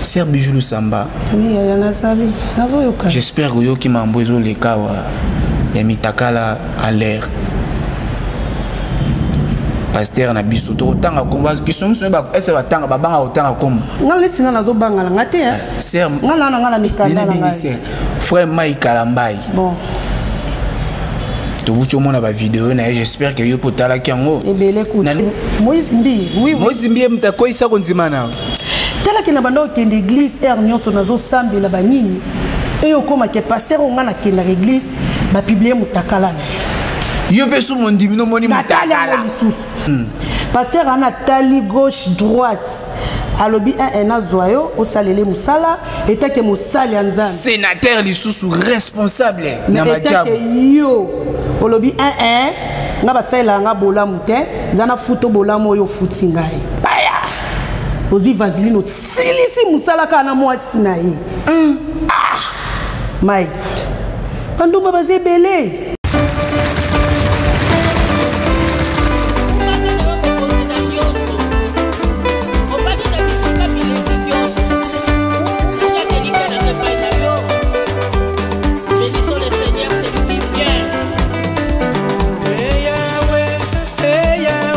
Sœur Bijou Lusamba. Oui, yaya nazali. Nazoyoka. J'espère que yoki mambo ezo leka wa ya mitakala à l'air. pasteur na biso tokotanga kombo biso miso ese batanga babanga kotanga kombo ngai neti ngai nazobangana ngai te eh, ser ngai nana ngai na mikanda na ngai frère mai kalambai bon tobuti omona bavideo na ye j'espère ke yo mpo otalaki yango ebele kutu moise mbi moise mbi ye moto akweyisa kondima na tala ke na banda okende eglise heure nyonso nazosambela banini eye okoma ke paster oyo ngai nakendaka eglise bapiblie motakala na ye yo mpe sumu ondimi nomoni natali yango lisusu hmm. paster ana tali gauche droite alobi ee nazwa yo osalele mosala etake mosali ya nzambe senateur lisusu responsable na majabu yo olobi ee nga basalelaka nga bolamu te eza na futo bolamu oyo ofuti ngai ozwi vaseline osilisi mosala kaka na mwasi na ye mm. ah! mike bandumba baza ebele Hey, yeah,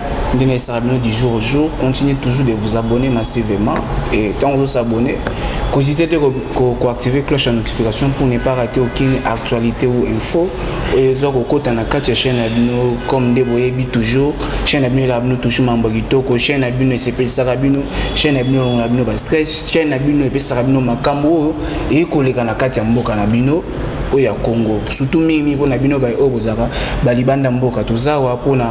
nde na esala bino du jour au jour continuez toujours de vous abonner massivement et ntango ozo s'abonner kozite te koactive cloche ya notification pour ne pas rater aucune actualité ou info oyo eza kokota na kati ya chaîne ya bino comme nde boyebi toujours chaîne ya bino elaka bino toujours mambo ya kitoko chaîne ya bino esepelisaka bino chaîne ya bino elongola bino bastress chaîne ya bino epesaka bino makambo oyo eye koleka na kati ya mboka na bino oyo ya congo surtout mingi mpona bino baye oyo bozalaka balibanda mboka toza awa mpona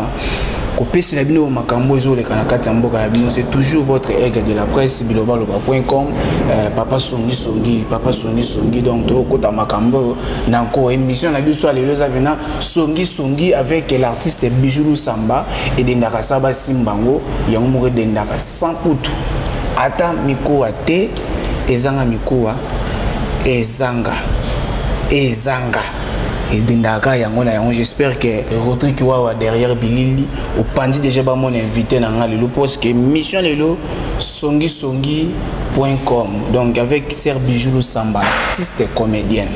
kopesela bino makambo ezoleka na kati ya mboka na bino c'est toujours votre aigle de la presse bilobaloba point com euh, papa songisongi papa songisongi donc tokokota makambo oyo na nko émission na biso ya lelo eza mpena songisongi avec l'artiste bijou lusamba edendaka sa basimba yango yango moko edendaka sans kutu ata mikowa te ezanga mikowa ezanga ezanga ezindaka yango na yango j'espère que rodrik wawa derrière bilili opanzi déjà bamona invité na nga lelo parce que mission lelo songisongi point com donc avec ser bijou lusamba artiste comédienne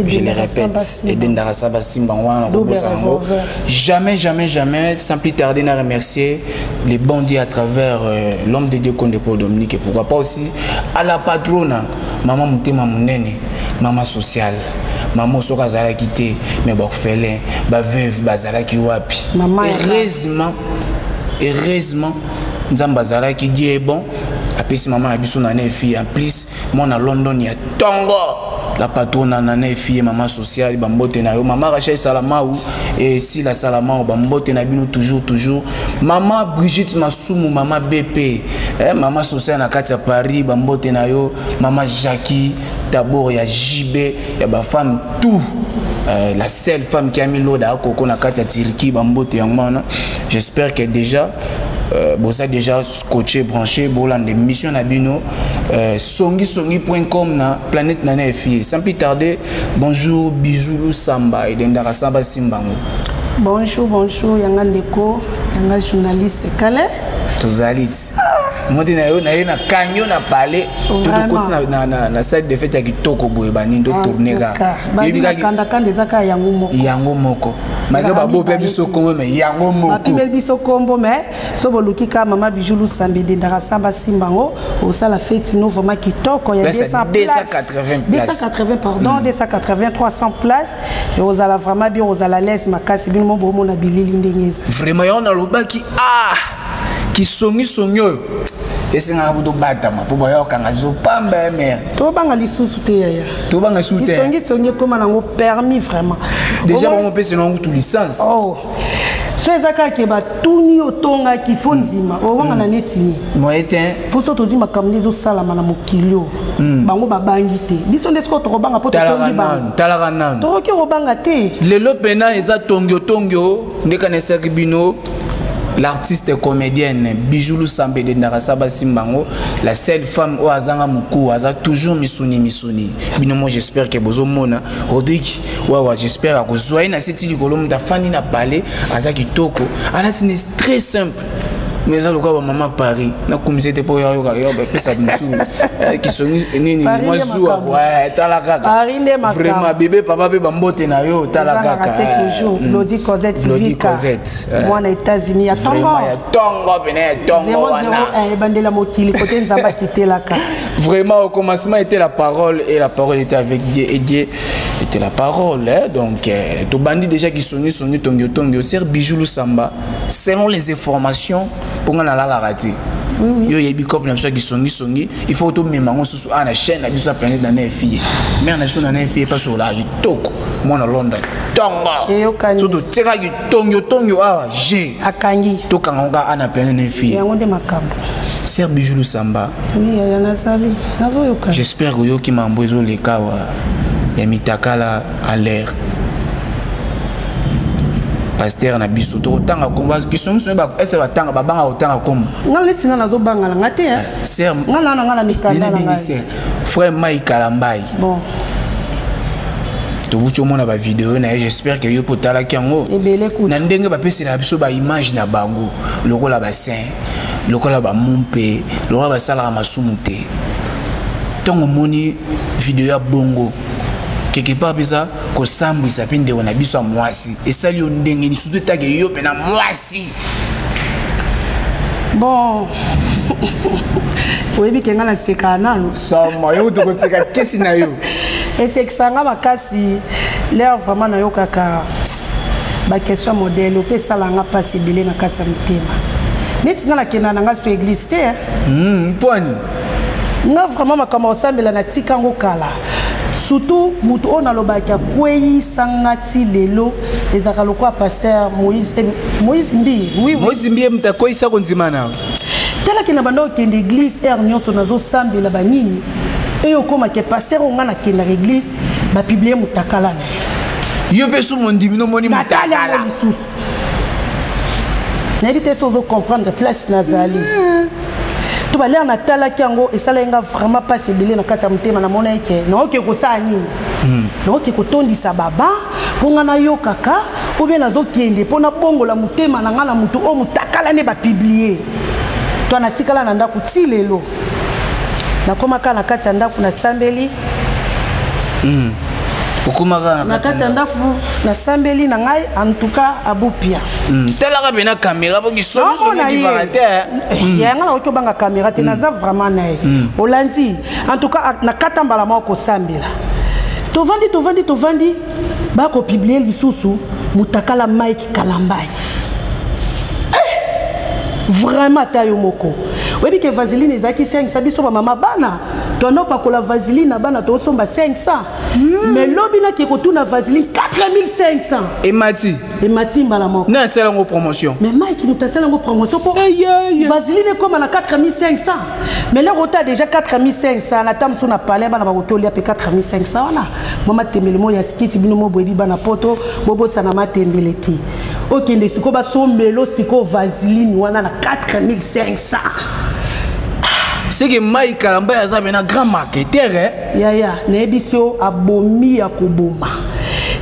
je le répète edendaka sa basimba yango wana nakobosana yango jamais jamais jamais sans plus tarder na remercier les bandits à travers euh, l'homme de dieu konde pour dominique et pourquoi pas aussi à la patrona maman motema monene mama social mama soki azalaki te mais baorphelin baveuve bazalaki wapi heureusement heureusement nzambe azalaki die bon apesi mama na biso na nefi en plus mwana london ya tongo la patrona na ne fille mama sociale bambote na yo mama rachel salamau e sila salamau bambote na bino toujours toujours mama brigitte masumu mama bp eh, mama sociale na kati ya paris bambote na yo Mama Jackie, d'abord ya JB, ya ba femme tout. Euh, la seule femme qui a mis l'eau dans Coco na Katia Tirki, Bambote Yangmana. J'espère que déjà Euh, boza déjà scotché branché bolanda émission na bino euh, songi songi point com na planète nana efie sans plus tarder bonjour bisous samba edendaka samba simbango bonjour bonjour yanga ndeko yanga journaliste kale tozali ti moti na yo na ye nakangi yo na pale tokoti na site de fete ya kitoko boye baningi totourne kaka yebikakandakanda eza kaka yango moko yango moko malgré babope biso kombo me yango mokobapibe biso kombo me so boluki ka mama bijou lusambe dendaka samba simba yango osala feti no vraiment kitoko ya 280 pardon 280 300 place ekozala vraiment bien kozala lese makasi bino mo bomona bilili ndenge eza vraiment yango nalobaki ah kisongisongi oyo esengaka po tobatama mpo baya kokanga biso pamba ya mere tobanga lisusu te yaya tobanga lisusu te kisongisongi ekóma nango permis vraiment déjà bango mpesena yango tu licence oh. so eza kaka ke batuni otongaki fo ndima owangana mm. neti nini moyen te mposo tozwi makambo nde ezosalama na mokili oyo Mm. bango babangi te biso nde sikoyo tokobanga mpo totongi bangotalaka nanu tokoki kobanga te lelo mpena eza tongio tongio nde kanesaki bino l'artiste comédienne bijou lusambe edendaka sa basimba yango la seule femme oyo azanga mokuu aza toujours misuni misuni bino moi j'espère ke bozomona rodrik wawa j'espère akozwa ye na seti likolo moto afandi na pale aza kitoko alati ne très simple nga eza lokola bamama paris nakumisa ete mpo yayoka yo bapesa mosusu eh, kisongi eh, nini mwa zuwa eh, tala kaka vraiment bebe papa mpe bambote na yo tala kakalodi mm. cosette mwana états-unis ya tongo ya tongo pene ya tongo wana ebandela mokili kote nzambe akitelaka vraiment au commencement était la parole et la parole était avec dieu et dieu était la parole hein? donc tobandi déjà kisongi songi tongi otongi oser bijou lusamba selon les informations mpo ngai nalalaka te yo oyebi cope na biso ya kisongisongi il faut tomema yango susu awa na chaîne na biso ya planète na na efie mare na biso na na efie mpasi olaka kitoko mwana london tongo so totiekaki tongi otongi awa je akangi tokanga ngo kaka ana planète na efie yango nde makambo ser bijou lusamba j'espère oyoki mambo ezoleka wa ya mitakala en l'air pasteur na biso tokotanga komba kisongiso ese batanga babanga kotanga kombo nga neti nga nazobanga na nga te eh. ser nga naa na nga na mikanda na ngai frère mai kalambai bon tobuti omona bavideo na ye j'espère ke yo mpo otalaki yango na ndenge bapesela biso baimage na bango lokola basin lokola bamumpe lokola basalaka masumu te ntongo omoni video ya bongo quelque part mpenza kosambwisa mpe ndeko na biso ya mwasi esali yo ndenge ni surtout etake yo mpe na mwasi bon oyebi ke ngai naseka nanu sama yo tokoseka kesi na yo esekisa ngai makasi lere vraiment nayokaka baquestion modele ope esala ngai mpasi ebele na kati ya motema neti ngai nakenda na ngai so eglise te hmm, mpwani nga vraiment makambo osambela na tika yango kala surtout moto oyo nalobaki akweyisa nga ti lelo ezalaka lokola paster moïse eh, moïse mbi oui, moïse mbi moto akweyisa kondima na talaki na banda okende église heure nyonso nazosambela banini eye okomaki paster oyo nga nakendaka église bapiblie motakala na ye yo mpe sumu ondimi nomoni motakala nayebi te soki ozocomprendre place nazali mm. to balere natalaki yango esalaki nga vraiment mpasi ebele na kati ya motema namonaki ke naoke kosala nini mm. naoke kotondisa baba mpo ngai nayokaka mpo bie nazokende mpo nabongola motema na ngai na moto oyo motakala nde bapiblie to natikala na ndako ti lelo nakoma kaka na kati ya ndako nasambeli mm. okomaka na kati ya ndako nasambeli na ngai antuka abupia mm. talaka mpe na kamera po kisonisokodibaka te eh. mm. yanga nakoki obanga kamera te mm. naza vraiment na ye mm. olandi antuka nakata mbala moko kosambela tovandi tovandi tovandi bakopiblie lisusu mutakala mike kalambai eh! vraiment ata yo moko oyebi ke vaseline ezalaki 500 biso bamama bana toanda opakola vaseline na bana tosomba 500 mm. mais lobi nake kotuna vaseline 4500 emati emati mbala moko na asala yango promotion mais mike moto asala yango promotion mpo vaseline ekóma na 4500 mais loko ota déjà 4500 na ta mosusu na palais bana bakoki olia mpe 4500 wana mwa matembele moko ya sikiti bino moko boyebi bana poto bobosana matembele te okende sikoyo basombelo sikoyo vaseline wana na 4500 seke mai kalambaya aza pena grand marketer eh? yaya nayebi so abomi ya koboma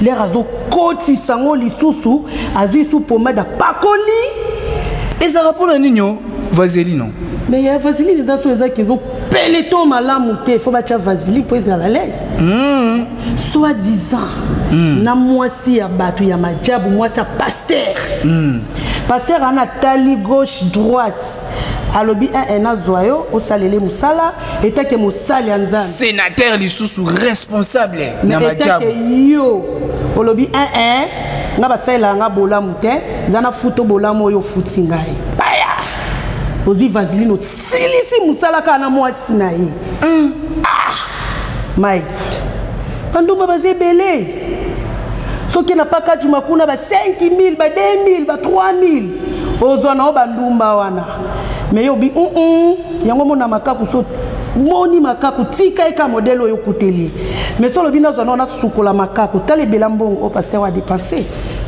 lere azokotisa yango lisusu azwi su pomade apakoli ezalaka mpona nini o vaseline mais ya vaseline eza so ezaki ezo peleton malamu te fo batya vasili mpo ezala lese mm. soit disant mm. na mwasi ya bato ya majabu mwasi ya paster mm. paster ana tali gauche droite alobi ee nazwa yo osalele mosala etake mosali ya nzambe senateur lisusu responsable na majabu yo olobi ee nga basalelaka nga bolamu te eza na futo bolamu oyo ofuti ngai baya ozwi vaseline asilisi mosala kaka na mwasi na ye mm. ah! mike bandumba baza ebele soki na pakajuma kuna ba 5000 ba 2000 ba 3000 ozwa nao bandumba wana me yo obi mm yango mona makaku so moni makaku tika ye ka modele oyo okuteli me so olobi nazwa nao nasukola makaku tala ebela mbongo o paster wa depense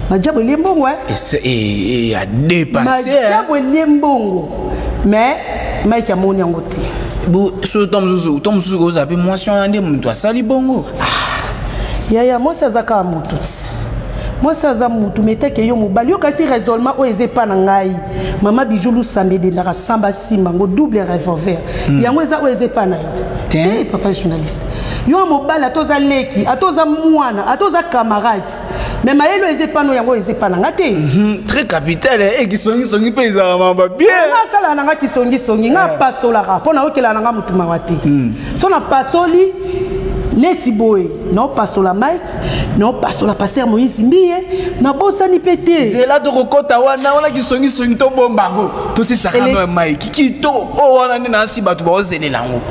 majabu elie mbongo eh? eh, eh, eh, majabu elie mbongo mais mike amoni yango te soki to mosusu to mosusu kozala mpe mwasi wana nde moto asali bongo ah, yaya mwasi aza kaka moto ti mwasi aza motu meteke yo mobali yo kasi raisonnement oyo eza epa na ngai mama bijou lusambe edendaka samba simba ngo double revolver mm. yango eza oyo eza epa na yo te papa journaliste yo mobali ata oza leki ata oza mwana ata oza camarade mais mayelo eza epa no yango eza epa na nga te mhm, très capital eh, eh, kisongisongi mpe ezalaka maba bienga asalaka na nga kisongisongi nga eh. apasolaka mpo nayokelaka na nga motu mawa te hmm. so napasoli neti boye naopasola mike naopasola paster moïse mbiye nabosani mpe te zela tokokɔta wana wana kisongisongi tobomba yango tosisakano ya mike kitoko oyo wana nde nasi bato baozelela yango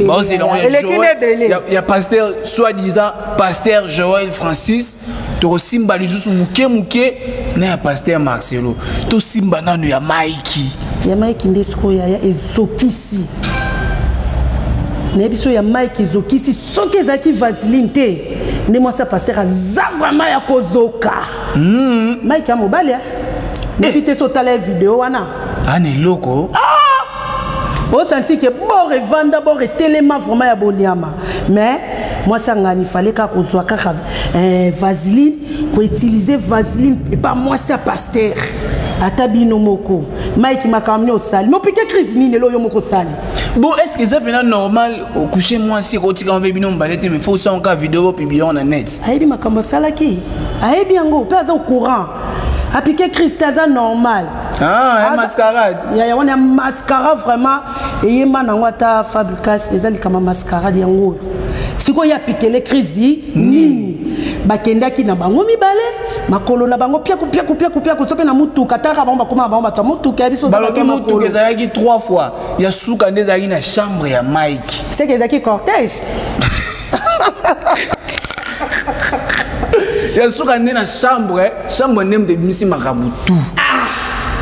baozelela yango ya paster soit disant Pasteur Joël Francis tokosimba lisusu moke moke na ya Pasteur Marcelo tosimba nanu ya Mike ya Mike nde sikoyo yaya ezokisi nayebi so ya Mike ezokisi soki ezalaki vaseline te nde mwasi ya Pasteur aza vraiment ya kozoka mm. Mike ya mobali eh. nayebi te so otala ye video wana ana ah, eloko ah! osanti ke bor evanda bor etelema vraiment ya boniama mais mwasi angani fale kaka kozwa kaka eh, vaseline koutilize vaseline epa mwasi ya paster ata bino moko mike makambo nini osali mopike crise nini elo yo moko osali bon est ce que eza mpena normal okouche mwasi ekotikama mpe bino mobale te mais fo osala kaka video bopibliyango na net ayebi makambo asalaki ayebi yango mpe aza au courant apike crise te aza normal Ah, ya mascarade yaya wana ya mascara vraiment eyemba nango ata fabricas eza likama mascarade yango oyo sikoyo ya pitele crise nini bakendaki na bango mibale makolo na bango piaku piaku piaku piaku so mpe na motuka taka bango bakoma na bango bato ya motuka ya biso balobi motuka ezalaki trois fois ya suka nde ezalaki na chambre ya mike seke ezalaki cortège ya suka nde na chambre Samba nem de bimisi makambo tout. Ah!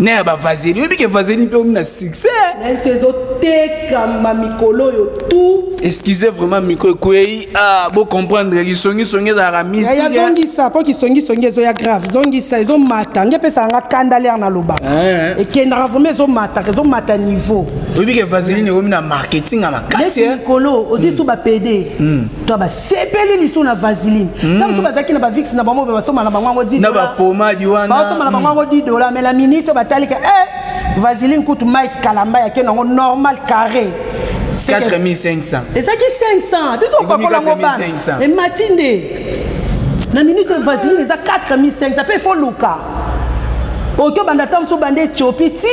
na ya bavazeli oyebi ke vazeli mpe omi na succès nayebisi ezotekama mikolo oyo tout excusez vraiment miko ekwei ah, bocomprendre lisongisongi ezalaka mistiya zongisa mpo kisongisongi ezoya grave zongisa ezomata nge epesaka nga kanda lere naloba eh. ekendaka vraimen ezomataka ezomata niveau oyebi ke vaseline ekomi na marketing ya makasi mikolo ozwi so bapede hmm. to basepeli lisusu na vaseline hmm. ntango mosusu bazalaki na bavix na bango basomba na bango yango dina bapomadi wana basomba na bango yango hmm. di dola mais na minute batalika e eh, vaseline kutu mike kalamba yake nango normal carré 4500 ezalaki 500 biso okakola ngo bana emati nde na minute vaseline eza 4500 mpe efo luka oki obanda ata mosu obanda ethiopie ti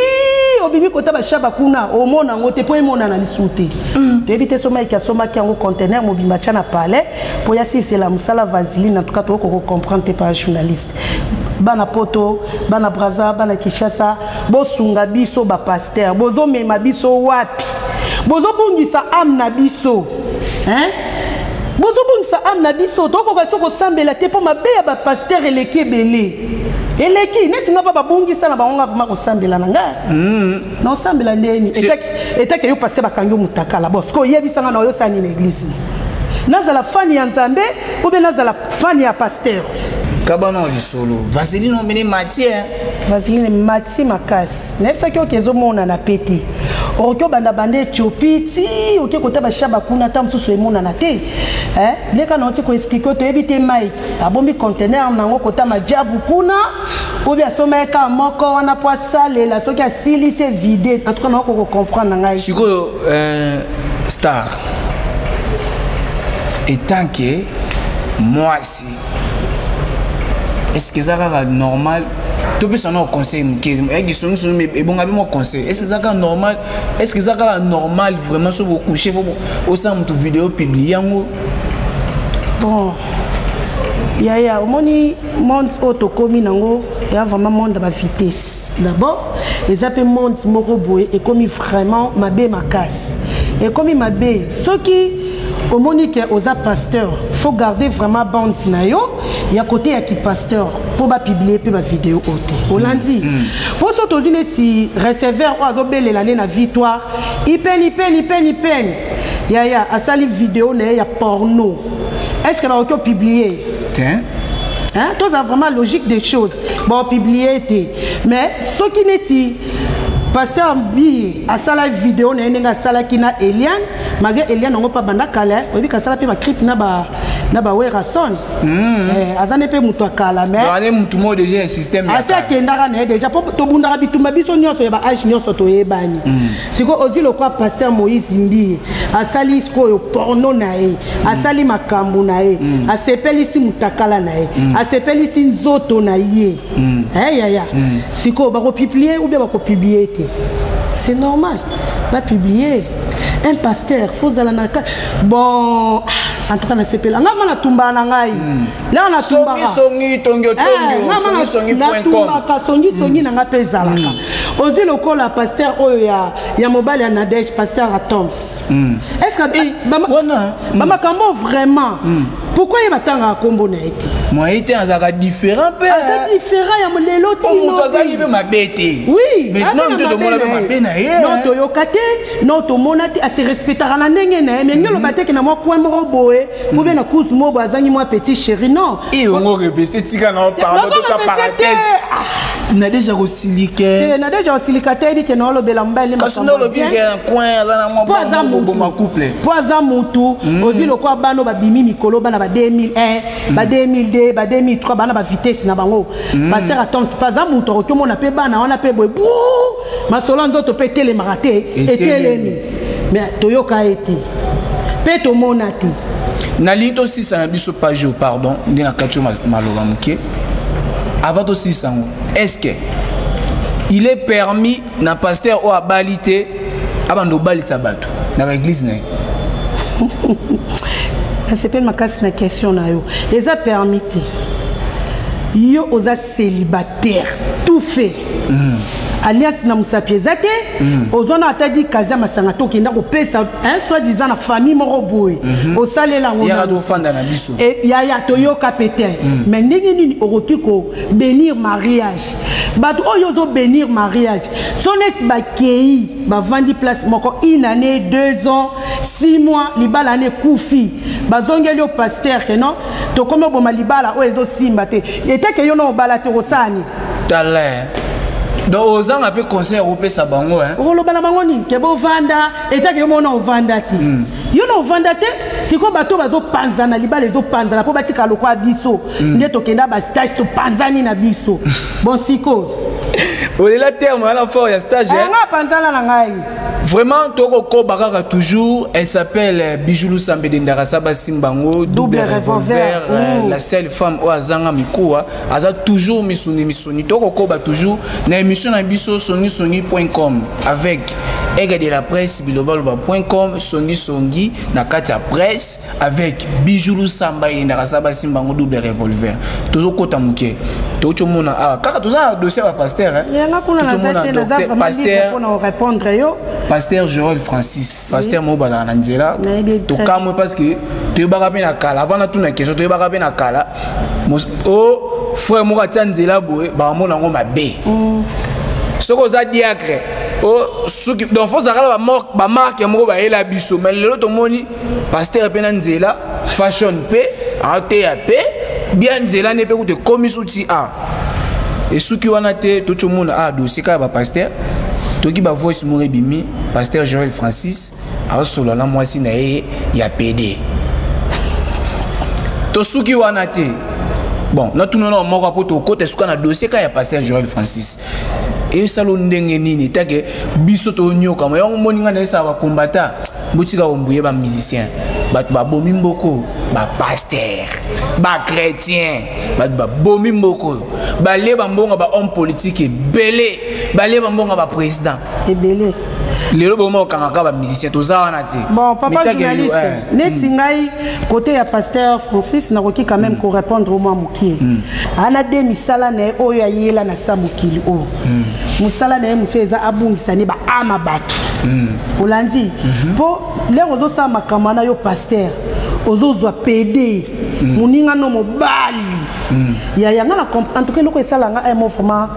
obimi kota bashaba kuna omona yango te mpo emonana lisusu te mm. toyebi te somaiki asombaki yango contener mobimba tya na palais mpo yasilisela mosala vaseline en tout cas tokoki kocomprendre te par journaliste bana poto bana braza bana kinshasa bosunga biso bapaster bozomema biso wapi bozobungisa ame na biso hein? bozobungisa ame na biso tokoka so kosambela te mpo mabe ya bapastere eleki ebele eleki neti nga mpa babungisa na bango nga vraimen kosambela na nga hmm. na osambela ndeni etake yo paster bakangi yo motakala bon soki oyebisa nga na oyosala nini eglise nazala fani ya nzambe ou bien nazala fani ya paster kabana lisolo vaseline omene matière vaseline mati makasi nayebisaki yo ke ezomonana mpe te okoki obanda banda ethiopie ti oke kota bashaba kuna ata mosusu emonana te eh, ndeka na oti koexplike toyebi te mike abombi contener nango kota majabu kuna obi asomba ye kaka moko wana mpo asalela soki asilisi evide en tout cas naoko kocomprendre na ngai sikoyo euh, star etant ke mwasi est-ce que eza kaka normal topesa nao conseil moke eyaki songisongi me ebonga mpe mwa conseil est ce eza kaka normal est ce que eza kaka normal vraiment so bokouche fo osala moto video publie yango bon yaya omoni monde oyo tokómi nango eya vraiment monde ya bavitesse d'abord eza mpe monde moko boye ekomi vraiment mabe makasi ekomi mabe soki omoni ke oza pasteur faut garder vraiment bande na yo ya kote ya kipasteur mpo bapiblie mpe bavideo oyo te olandi mpo mm, mm. so tozwi neti receveur oyo azobelela nde na victoire ipeni peni peni peni yaya asali video na ye ya porno est ce que bakoki opiblie Tiens. Hein, toza vraiment logique des choses bon publier te mais soki neti pasteur mbi asala video na ye ndenge asalaki na eliane malgré eliane yango mpe abanda kala oyebi kasala mpe bacripe na ba na ba werason mm. eh, aza nde mpe moto ya kala mais motu moko deja ya système asi akendaka na ye deja mpo tobundaka bitumba biso nyonso ya baage nyonso toyebani mm. sikoyo ozwi lokwa pasteur moïse mbi asali sikoyo porno na ye asali makambo na ye mm. asepelisi motakala na ye mm. asepelisi nzoto na ye mm. hey, eh, yaya mm. sikoyo bakopiblie oubien bakopiblie te c'est normal bapiblie un pasteur fo ozala na bon ah, en tout cas nasepela nga ma natumbaka na ngai mm. laa natumbakangatumbaka songisongi na ngai mpe ezalaka mm. ozwi lokola pasteur oyo ya mobali ya nadege pasteur atoms mm. est ce que eh, bamakambo mm. vraiment mm. pourquoi ye batangaka nkombo na ye te moye te azalaka différent mpe aza différent ya lelo timoto azalaki mpe mabe te oui maintenant nde tomona mpe mabe na ye non toyoka te non tomona te ase respectaka na ndenge na ye mais nge oloba teke na mwa coin moko boye ko bien na cause mo bo azangi moi petit chéri non et on revêt c'est tika na pardon de ta parenthèse ah. na déjà ko silike eh na déjà ko silika te dit que na lobela mbali le parce que na lobi que un coin za na mo poza mutu ma couple poza mutu hmm. ozi loko bano ba bimi mikolo bana ba 2001 ba 2002 hmm. ba 2003 bana ba vitesse na bango hmm. passer attends pas za mutu ko mona pe bana wana pe boy masolo ya nzoto mpe etelemaka te etelemi me toyoka ye te mpe tomona te nalingi tosisa na biso page oyo pardon nde nakati yo maloba moke avant tosisa yango est ce que il est permis na pasteur oyo abali te abanda obalisa bato na baeglize na ye nasepeli makasi na question na yo eza permis te yo oza celibataire tout fait mm. alias na mosapi eza te mm. oza na ata di kazi ya masanga te okenda kopesa soit disant na famille moko boye mm -hmm. osalela ngotofanda na biso e, yaya toyoka mpe te mm. mais ndenge nini okoki kobenir mariage bato oyo ozobenir mariage so neti bakei bavandi place moko une année deux ans six mois libala na ekufi bazongeli yo paster ke non tokomi oboma libala oyo ezosimba te eteke yo na obala te okosani talin donc ozanga mpe conseil okopesa bango okoloba na bango nini ke bovanda eteke yo mona ovanda te hmm. yo na ovanda te sikoyo bato bazopanzana libala ezopanzana mpo batika lokwa biso hmm. nde tokenda bastage topanzani na biso bon sikoyo olela terme wana fort ya stage eh? nga panzana na ngai Vraiment, toko koba kaka toujours. Elle s'appelle euh, Bijoulou Sambede Ndarasa Basimbango, double revolver, euh, la seule femme au Azanga Mikoa. Aza toujours misuni misuni. Toko koba toujours. Na émission na biso soni soni.com avec Ega de la presse bilobaloba.com songi songi na kati ya presse avec bijou lusamba eyendaka sa basimba yango double revolver tozokota moke toki tomona awa ah, kaka toza na dossier ya bapaster paster joel francis paster moko bazalaka na nzela tokamwe parce que toyebaka mpe na kala avant natuna question toyebaka mpe na kala o oh, frère moko atya nzela boye bakamona yango mabe mm. soki oza diacre oh, soki donc fo ozalaka na bamarke moko bayela biso mais lelo tomoni pasteur mpe na nzela fashion mpe ateya mpe bia nzela nde mpe kutu ekomisi uti a esuki wana te toki omona a dossier kaka bapasteur toki bavoice moko ebimi pasteur joel francis aosolola na mwasi na ye ya pede tosuki wana te bon natuna na moko mpo tokota esuka na dossier kaka ya pasteur joel francis esalo ndenge nini take biso tonyokama yango moni ngai na esala bakombata botika ombuye ba musicien bato babomi mboko bapaster bachrétien bato babomi mboko oyo balie bambonga bahomme politique ebele balie bambonga baprésident ebele lelo boma okangaka bamusicien toza wana te bon papa journaliste eh. neti ngai kote ya pasteur francis nakoki quand même mm. korépondre omwa mokie mm. ana de misala na ye oyo ayela na sa mokili oyo hmm. mosala na ye mosusu eza abungisa nde baama bato hmm. olandi mpo mhm. lere ozosala makambo wana yo paster ozozwa pede hmm. moninga no mobali ya yanga na en tout cas eloko esala nga emo eh, vraiment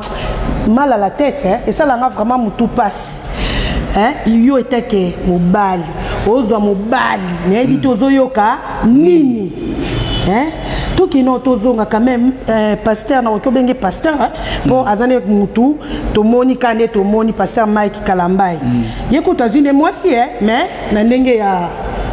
mal à la tête hein? esala nga vraiment motu mpasi hein? yo eteke mobali ozwa mobali nayebi te ozoyoka nini hein? tokino tozonga quand même euh, pasteur nakoki obenge pasteur hein? mpo mm. aza nde mutu tomoni ka nde tomoni paster mike kalambai mm. ye kutu azwi nde mwasi e mais na ndenge ya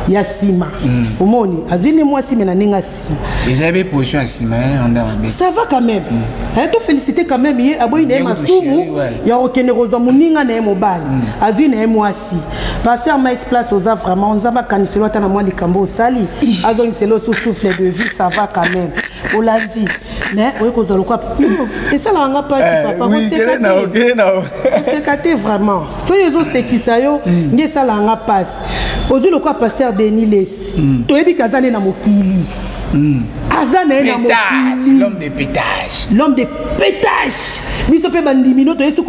ya nsima mm. omoni azwi nde mwasi me na ndenge ya nsima eza be position ya nsima eh, ça va quand même mm. eh, tofélicité quand même ye aboyi na ye masumu ya kokende kozwa moninga na ye mobali mm. azwi na ye mwasi paster mike place oza vraiment nzambe akaniselo ata na mwa likambo osali azongiselo sous souffle de vie ça va quand même olandi mais oye kozwa lokola esalaka nga mpasi eh, papaoseka te vraiment soki ezosekisa yo hmm. nde esalaka nga mpasi ozwi lokola paster deni lesi hmm. toyebi ke aza nde na mokili hmm. aza na ye na mokili l'homme de pétage biso mpe bandimino toyesi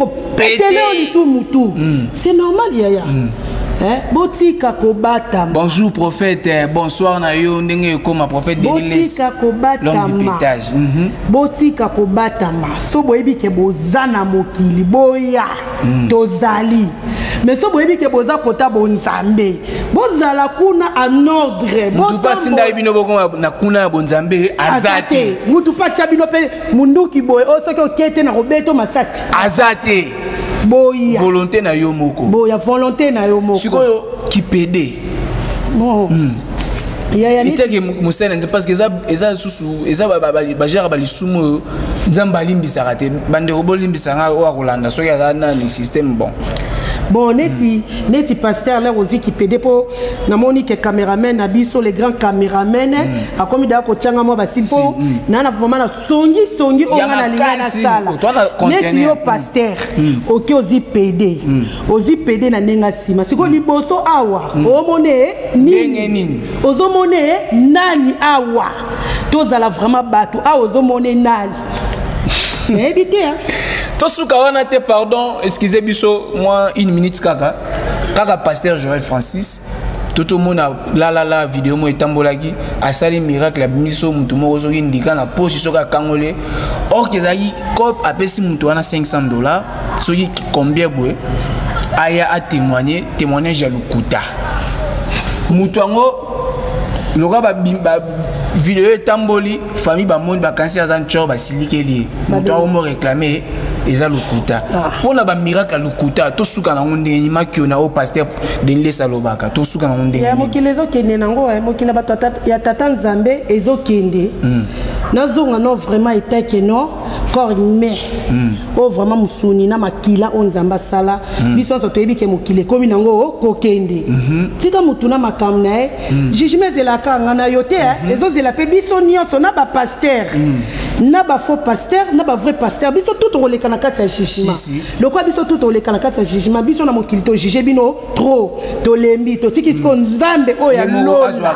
Hmm. c'est normal yaya hmm. eh, botika kobatama bonjour prophète eh, bonsoir na yo ndenge ekoma prophète botika kobatama mhm. botika kobatama so boyebi ke boza na mokili boya hmm. tozali mais so boyebi ke boza kota bonzambe bozala kuna en ordre mutu mpe atindaki bino bokoma na kuna ya bonzambe aza te mutu mpe atya bino mpe munduki boye oyo oh, soki oke te na kobeta masasi aza te boya volonté na yo moko boya volonté na yo moko sikoyo kipede bon. mm. iteke mosali na nzambe parce que eza lisusu eza bageraka balisumu oyo nzambe alimbisaka te bandeko bolimbisa ngai oyo akolanda soki aza nani systeme bon bon neti mm. neti pasteur lere ozwi kipede mpo namoni ke cameraman na biso le grand cameraman mm. akomi daa kotyanga mwa basi mpo mm. naa na vraimen songi songi oyo nga nalinga nasala neti yo paster hmm. oke ozi pede hmm. ozi pede na ndenge nsima sikoyo hmm. liboso awa omona ye nini ozomona ye nani awa tozala vraiment bato awa ozomona ye nani nayebi te tosuka wana te pardon excuse biso mwa une minute kaka kaka paster joel francis totomona lalala video moko etambolaki asali miracle abimisi so motu moko soki ndika na poche soki akangoli orke ezalaki cop apesi motu wana 500 dollar soki combien boye aya atémoigne témoignage ya lokuta motu yango lokola bavideo etamboli famille bamoni bakanisi aza ncor basilikeli ye motu yango mo réclame eza lokuta mpo ah. na bamiracle ya lokuta tosuka nango ndenge nini makio na oyo paster denles alobaka tosuka nango ndenge ya mokili ezokende nango eh, mokili ya bato ya tata nzambe ezokende hmm. nazonga no vraiment etake no corps humain hmm. oyo vraiment mosuni na makila oyo nzambe asala hmm. biso nyonso toyebi ke mokili ekomi nango oh, kokende mhm. tika motu na makambo na ye jugement ezelaka nga na yo te eh. mhm. ezozela mpe biso nyonso na bapaster na bafaux paster na bavrai paster biso tout tokoleka na kati ya jugement lokola biso tu toleka na kati ya jugement biso na mokili tojuge bino trop tolembi totiki sikoyo mm. nzambe oyo ya lola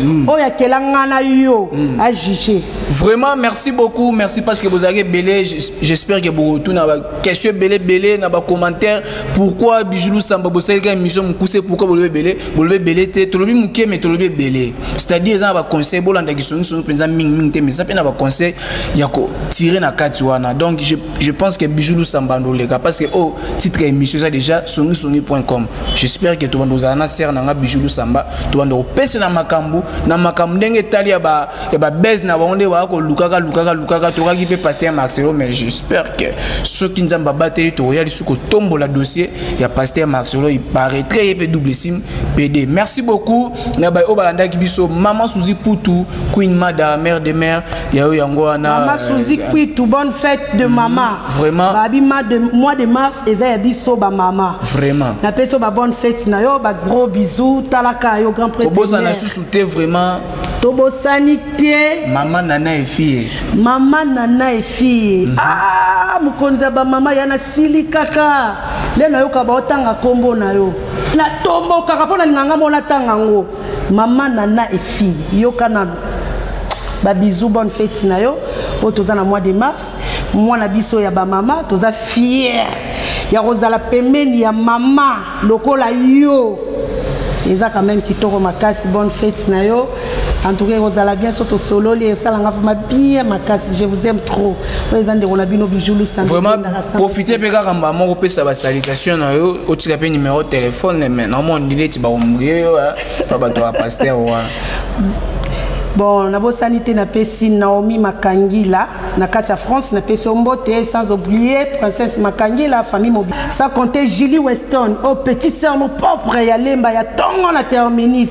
mm. oyo akela nga na yo mm. ajuge vraiment merci beaucoup merci parce que bozalaki ebele j'espère que bokotuna baquestion ebele ebele na bacommentaire pourquoi bijulu samba bosalika émission mokuse pourquoi bolobi ebele bolobi ebele te tolobi moke me tolobi ebele c'est-à-dire eza na baconseil bolandaki songisongi mpenza mingimingi te mais eza mpe na baconseil ya kotire na kati wana donc Je pense que Bijou Lusamba Ndoleka parce que oh titre émission ça déjà songisongi.com. J'espère que tu vas nous en serre nanga Bijou Lusamba, tu vas nous pèse na makambu, na makambu ndenge tali ya ba ya ba buzz na wonde wa ko lukaka lukaka lukaka to ki pe pasteur Marcelo mais j'espère que ce qui nous amba bateli to ya lisuko tombola dossier ya pasteur Marcelo il paraîtrait pe double sim PD. Merci beaucoup. na baye oyo balandaki biso mama suzi putu queen mada mère de mère ya yo yango wana mama euh, suzi putu bonne fête de mama mm, vraiment babi mois de mars eza ya biso bamama vraiment napesi yo babonne fête na yo bagros bisou talaka yo grand prêtobosana susu te vraiment tobosani te mama nana efie mama nana efie mm -hmm. ah, mokonzi ya bamama yana sili kaka nde nayoka baotanga nkombo na yo na tombokaka mpo na linganga mona tanga yango mama nana efille yoka nano babizou bonne fete na yo oyo toza na mois de mars mwana biso ya bamama toza fiere ya kozala pembeni ya mama lokola yo eza quand même kitoko makasi bonne fete na yo en tout cas ekozala bien so tosololi esalanga vrima bien makasi je vous aime trop oyo eza ndeko na bino bijou lusangaprofite mpe kaka mba moko opesa basalitation na yo otika mpe numero telefone me namoni neti bakombrie yo pa bato ya paster wana bon nabosani te napesi naomi makangila na kati ya france napesi yo mbote sans oublie princesse makangila famille mobi sans compter julie weston o oh, petit sermo propre ya lemba ya ntongo na terminus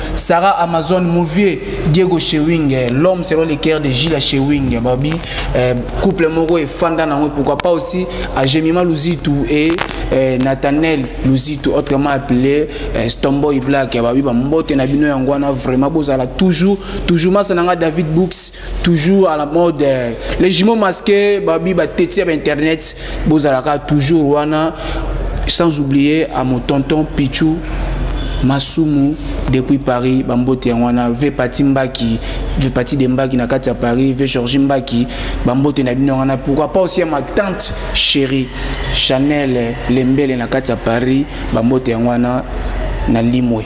Sarah Amazon Mouvier, Diego Chewing, eh, l'homme selon les cœurs de Gilles Chewing, eh, Babi, eh, couple Moro et Fanda Nango, pourquoi pas aussi à Jemima Luzitou et eh, Nathaniel Luzitou, autrement appelé eh, Stomboy Black, eh, Babi, Bambote Nabino Yangwana, vraiment, Bozala, toujours, toujours, Masananga David Books, toujours à la mode les jumeaux masqués babi ba tete ba internet bozalaka toujours wana sans oublier à mon tonton Pichou masumu depuis paris bambote yango wana ve pati mbaki ve pati de mbaki na kati ya paris ve georgi mbaki bambote na bino wana pourquoi pas aussi ya ma tante chérie chanel lembele na kati ya paris bambote yango wana na limwe